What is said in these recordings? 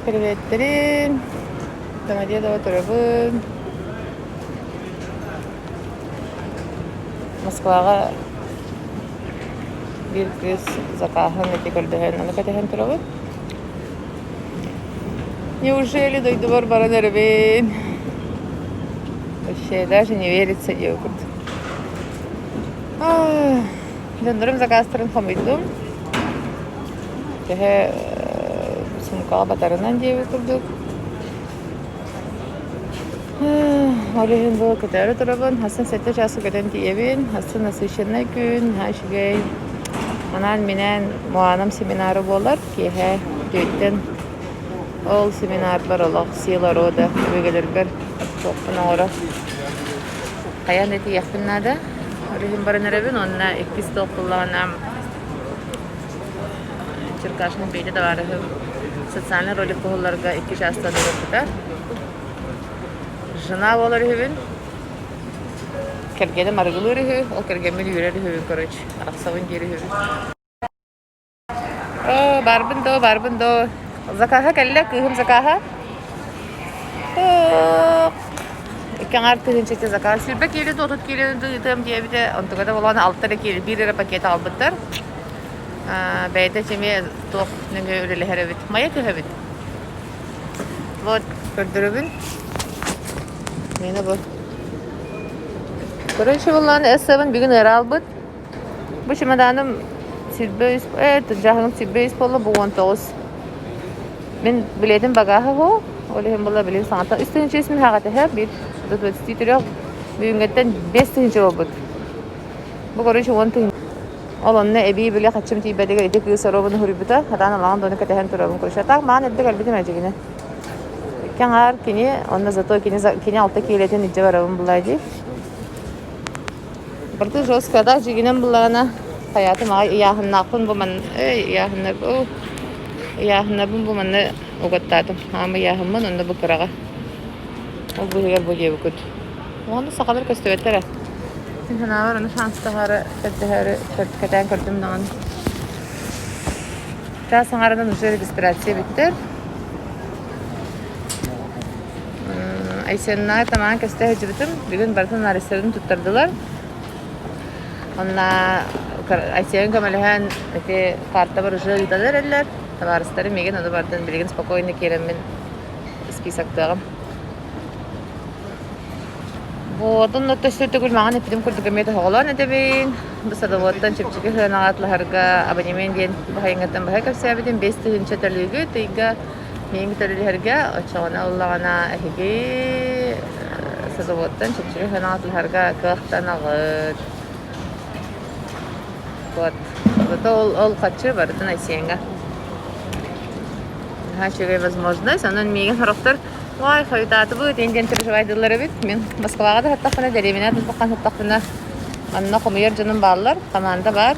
Приветтерин! Самодия дома турабын. Москваҕа биир кыыс закааһын эти көрдөһөн, аны кэтэһэн турабыт. Неужели дойдубар баран эрэбин? Вообще даже не верится Йогурт. Ах. Донорум закастырын хомуйдум. Төһө суумкаҕа батарынан диэбит курдук. Ол иһин бу көтөөрү турабын. Хасан сэттэ часу көтөн тиийэбин. Хасан насыщеннай күн. Ха үчүгэй. Анаан минээн Моанам семинары буолар. Киэһэ түөттэн ол семинарбар олох сила рода өбүгэлэргэр туохпун оҥоро хайан да тиийэхпин наада. Билим баран эрэбин уонна иккис тыл кыллаҕынан Черкашин бейте товарыһым социальный ролик куһулларга икки чаастан ырыппыта. Жена болар үһүбүн. Кэргэним арыгылыыр үһү, ол кэргэммин үүрэр үһүбүн, короче, арахсабын диир үһүбүн. Оо, барбын доо, барбын доо. Закааһа кэллэ, кыыһым закааһа. Тух. Икки аҥаар тыһыынча закаа. Силбэ киэлин отут киилин ыытыам диэбитэ. Онтуга да болоон алтар киил биир эрэ пакет аҕалбыттар. Бэйэтэ эмиэ туох нөҥүө үлэлэһэр эбит. Майа түһэбит. Вот, көрдөрөбүн. Мені бу. Короче, буллан S7 бүгін ыраалбыт. Бу чемоданым сирбэ үс э дьаһалым сирбэ үс буолла бу уон тоҕус. Мин билетим багааһы һуу, ол иһин була билин саҥата үс тыһыынча үс миһаҕатыһа бир двадцати трех бүгүҥҥэттэн биэс тыһыынча буолбут. Бу короче уон тыһыынча ол онно эбии били хаччым тиийбэтигэр ити кыыс оробун уһуруйбута атаан алаҕан дону кэтэһэн турабын короче атаах маан эрдэ кэлбитим эдьигине икки аҥаар кини онно зато кини кини алта киилэтин илдьэ барабын булай дии Барды жестко, да, дьигинем буллаҕына, хайаатым аҕай ыйааһыннаахпын бу манна, эй, ыйааһыннарбын, ыйааһыннарбын бу манна угаттаатым. Аама ыйааһыммын, онно бу кыраҕа. Ол быыһыгар бу диэбиккит. Ону сахалар көстүбэттэрэ. Мин санаабар ону шанстаһаары, көрдөһөөрү кэтээн көрдүм даҕаны. Чаас аҥаарынан уже регистрация бүттэр. Айсеннаҕа тамаҕа кэстэ сылдьыбытым. Бүгүн барытын арестарын туттардылар. Онно Айсен көмөлөһөн ити каартабар уже ыытан эрэллэр. Табаарыстарым миигин ону барытын билигин спокойно киирэммин списоктыаҕым. Вот онно төссө төгүл маҕан эппитим курдук эмиэ тоһоҕолоон этэбин. Бу садоводтан чэпчэки сыанаҕа атлаһарга абонемент диэн баһайыҥҥаттан баһа кэпсээбитим. Биэс тыһыынча төлүүгүт ыйга Миигин төлүһэргэ оччоҕуна ыллаҕына эһиги садоводтан чөкчөрү санаатыларга кыахтанаҕыт. Вот. Зато ол, ол хаччы барытын Айсиэҥҥэ. Наһаа үчүгэй возможность. Онон миигин сорохтор ой, хойутаатыбыт, эн диэн переживайдылар эбит. Мин Москваҕа да сыттахпына, дэриэбинэҕэ да сыттахпына, манна хомуйар дьонум бааллар, хамаанда баар.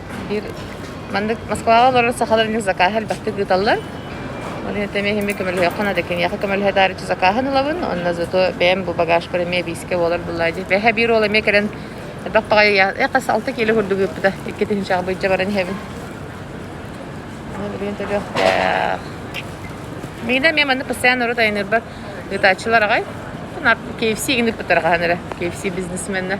Биир маннык Москваҕа олорор сахалар эмиэ закааһы элбэхтик ыыталлар. Оны этэми эһими көмөлөһүөххэ да киниэхэ көмөлөһө даарыччы закааһын ылабын. Онно зато бэйэм бу багажпар эмиэ биискэ буолар быллаа дии. Бэһэ биир уол эмиэ кэлэн элбэх баҕайы эхэс алта киило курдук ыыппыта иккитинчэҕэ быйдьа баран иһэбин. Билигин төлүөхтээх. Мигда мен манна постоянно орут айынырбар ыытааччылар агай. KFC гинdik пытарахаhan эрэ. KFC бизнесменна.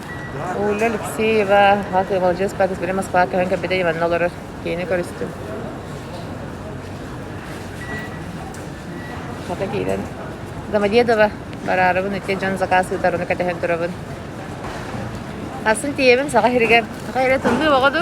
Уля Алексеева, ат Маладьыас Пятницбери Москва көһөн кэлбитэ Иванна олорор. Киэни көрүстүм. Хата киирэн Домодедово бараарыбын, ити дьон заказ ыытар, ону кэтэһэн турабын. Асын тиийэбин Саха сиригэр. Саха сирэ тымныы оҕо ду?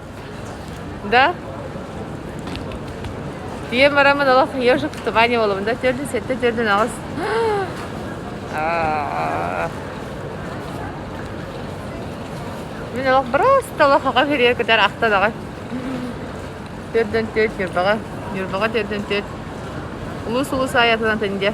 да ийэм арамын олох ежик в тумане буолабын да төрдүн сэттэ төрдүн аҕыс мин олох просто олох оҕо күріе кытар ахтан аҕай төрдөн төрт ньурбаҕа ньурбаҕа төрдөн төрт улуус улуус аайатынан тэнде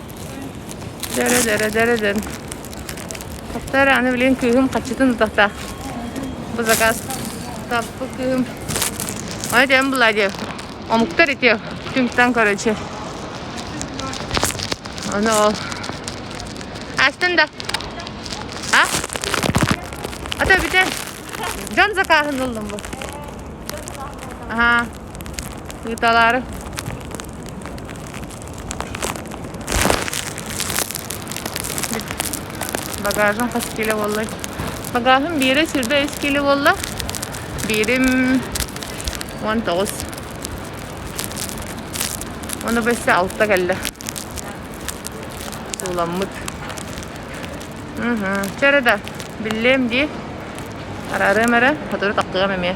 Дэрэ-дэрэ-дэрэ-дэн. Таптар аны билин кыыһым хаччытын утахта. Бу заказ таппыт кыыһым. Ай дием была диев. Омуктар итиев. Түҥтан көрөчү. Оны ол. Астын да. А? Ата битен. Жан закахын ылдым бу. Ага. Ыыталаары багажым хас кило буолла багажым биэрэ сирбэ үс кило буолла биирим уон тоҕус ону бэссе алта кэллэ сууламмыт чэрэ да биллиэм дии араарыам эрэ сотору тахсыам эмиэ